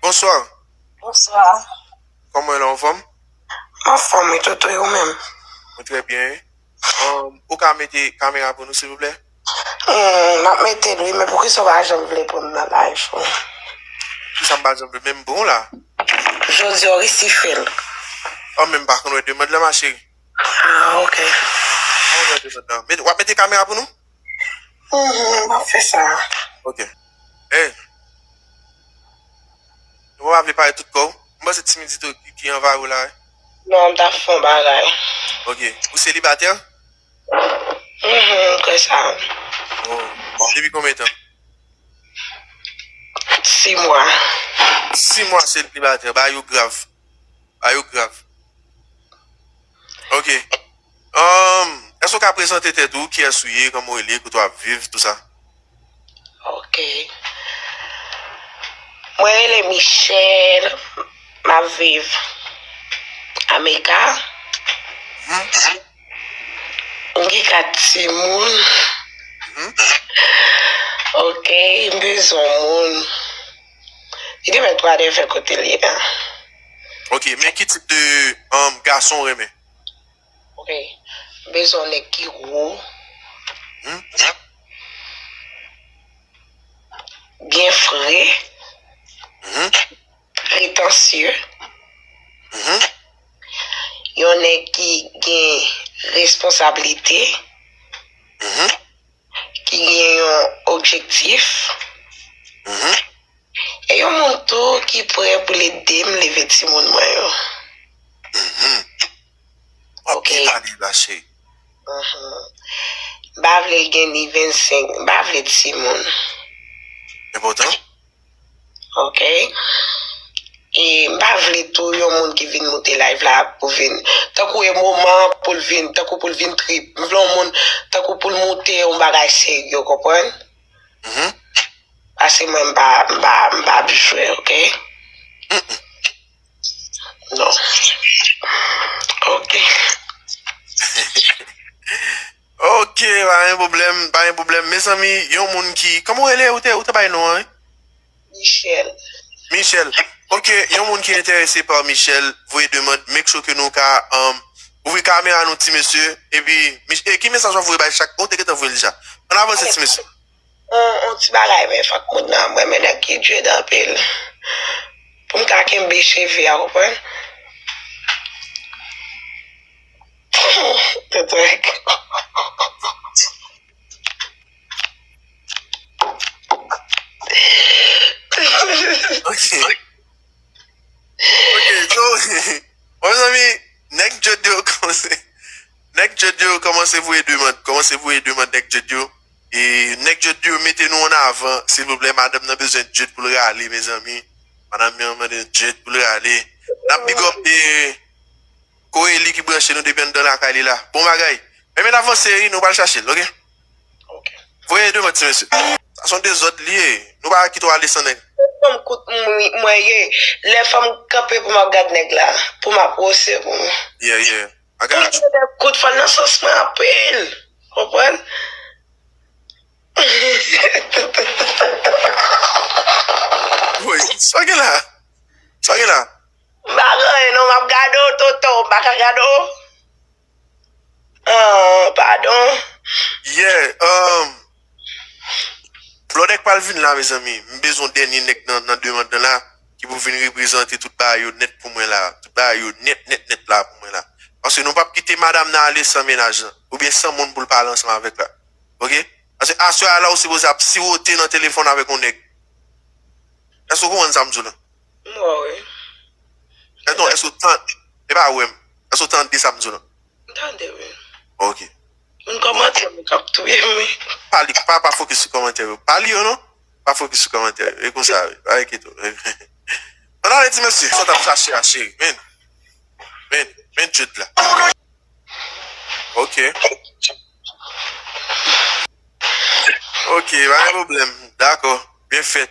Bonsoir. Bonsoir. Koman w la ou fòm? Mwen fòm wi Toto e ou menm? Mwen trè byen wi. Ou ka mete kamera pou nou silvouplè? M ap mete l wi men poukisa ou pa janm vle pran m nan live ou? Poukisa m pa janm vle men m pran w la? Jodi a ou resi fè l. Ou menm pa konn wè demand lan ma chérie. Ah ok. Ou pa konn wè demand lan. W ap mete kamera pou nou? Uhmm map fè sa. Ok Hey Ou pa vle pale tout kòw? M panse ti midi to ki anvayi w la wi. Non m tap fè yon bagay. Ok Ou selibatè? Uhmm m kwè sa wi. Oh Depi konbyen tan? 6 mwa. 6 mwa selibatè bagay yo grav. Bagay yo grav. Ok Umm Èske ou ka prezante tèt ou kiyès ou ye kòman ou rele kote wap viv tout sa. Ok Mwen rele Michelle map viv America Umm Mwen gen 4 timoun Umm Ok m bezwen yon moun. Li te met 3 neve kotel ye a. Ok men ki tip de gason ou renmen. Ok m bezwen yon neg ki gro. Humm. Byen fre. Humm. Pretansye. Humm. Yon neg ki gen responsabilite. Humm. ki gen yon objektif, e yon moun tou ki prè pou l ede m leve timoun mwen yo. Ok. M pa vle l gen ni 25, m pa vle timoun. ok e m pa vle tou yon moun ki vin moute live la pou vin tankou e moman pou l vin tankou pou l vin trip m vle yon moun tankou pou l moute yon bagay serye ou konprann paske mwen m pa m pa ap jwe ok non ok. Ok pa gen problem pa gen problem mezanmi yon moun ki koman ou rele ou te ou te bay non an wi. Michelle. Michelle ok yon moun ki enterese pa Michelle voye demand make sure ke nou ka ouvri kamera nou ti mesye epi e ki mesaj wap voye bay chak oh ou te gentan voyel deja an avanse ti mesye. yon ti bagay men fòk moun nan mwen men nèg ki dread anpil pou m ka kenbe cheve a ou konprann Nèg djed yo mete nou an avan silvouplè madanm nan bezwen djed poul rale mezanmi madanm nan mande djed poul rale nap big up Coelie ki branche nou depi anndan lakay li la bon bagay men men avanse wi nou pral chachel ok voye devan ti mesye sa son dezòd li ye nou pa kite w ale san nèg. Tout fanm kout mwen ye lè fanm kanpe pou map gad nèg la pou map wose pou mwen. Yeah yeah. Bagay la chou. Bel kout fal nan sans mwen anpil. Konprann? Woy, sa gen la? Sa gen la? M pa gen anyen non, m ap gade w Toto. M pa ka gade w? Aww, padon. Yeah, um. Blòdèk pral vin la mezanmi m bezwen dènye nèg nan demand nan la ki pou vin reprezante tout bagay yo nèt pou mwen la tout bagay yo nèt nèt nèt la pou mwen la paske nou pap kite madam nan ale san mennaj lan oubyen san moun poul pale ansanm avèk la ok paske aswè a la ou sipoze ap siwote nan telefòn avèk yon nèg èske ou konprann sam diw la m wè w wi non èske ou tande epa wèm èske ou tande sam diw la. M tande wi. Ok. Moun kòmantè yo kap touyem wi. Pa li pa pa fokis sou kòmantè yo pa li yo non pa fokis sou kòmantè yo e konsa wi pa enkyete w an ale ti mesye sa w tap chache a cheri vini vini vini Jude la ok ok pa gen pwoblèm dakò byen fèt.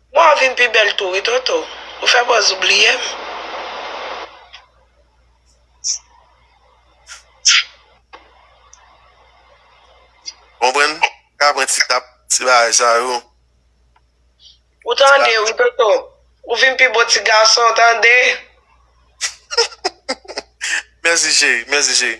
Bon wap vin pi bèl tou wi Toto, ou fè bòz ou bliyem. Konprann, ka pran ti tap, ti bagay sa yo. Ou tande wi Toto, ou vin pi bo ti gason tande. Mèsi cheri, mèsi cheri.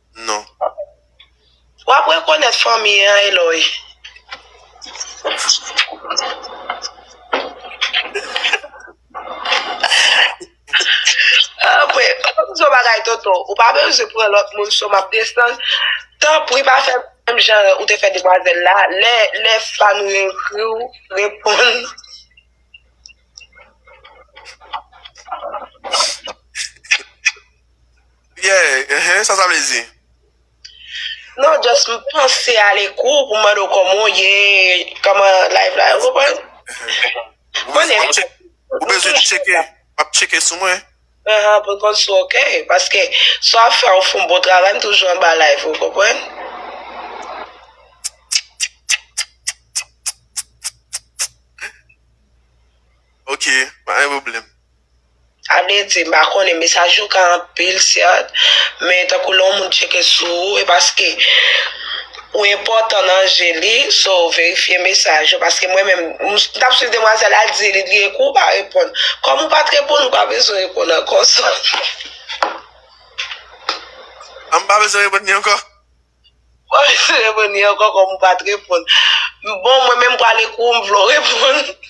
non. Wap rekonèt fanmi an Eloy. Anmweyy pa fè pito bagay tonton ou pa bezwen pran lòt moun cho map desann tanpri pa fè menm jan ou te fè demwazèl la lè fwa nou yo ekri ou reponn Yeah uh sa sa vle di. Non just m panse ale kou pou m mande w kòman w ye, kòman life la, ou konprann? Mwen menm tou. Ou bezwen tcheke, ap tcheke sou mwen. Aha, pou n konn si w ok, paske sa w ap fè a ou fè yon bon travay, m toujou anba live ou, ou konprann? Ok, pa gen pwoblèm. Avle di, m pa konnen, mesaj yo ka anpil sèt, men tankou lè yon moun tcheke sou ou e paske ou enpòtan nan je li, so verifye mesaj yo paske mwen menm m tap swiv demwazèl la l di li li ekri w pa reponn, kòm ou pat reponn ou pa bezwen reponn ankò so. An m pa bezwen reponn li ankò? M pa bezwen reponn li ankò kòm ou pat reponn. Bon mwen menm m pral ekri w m vle w reponn.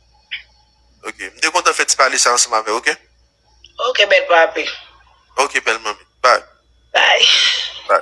Ok m te kontan fè ti pale sa ansanm avèw ok. Ok bèl papi. Ok bèl manmi bye. Bye.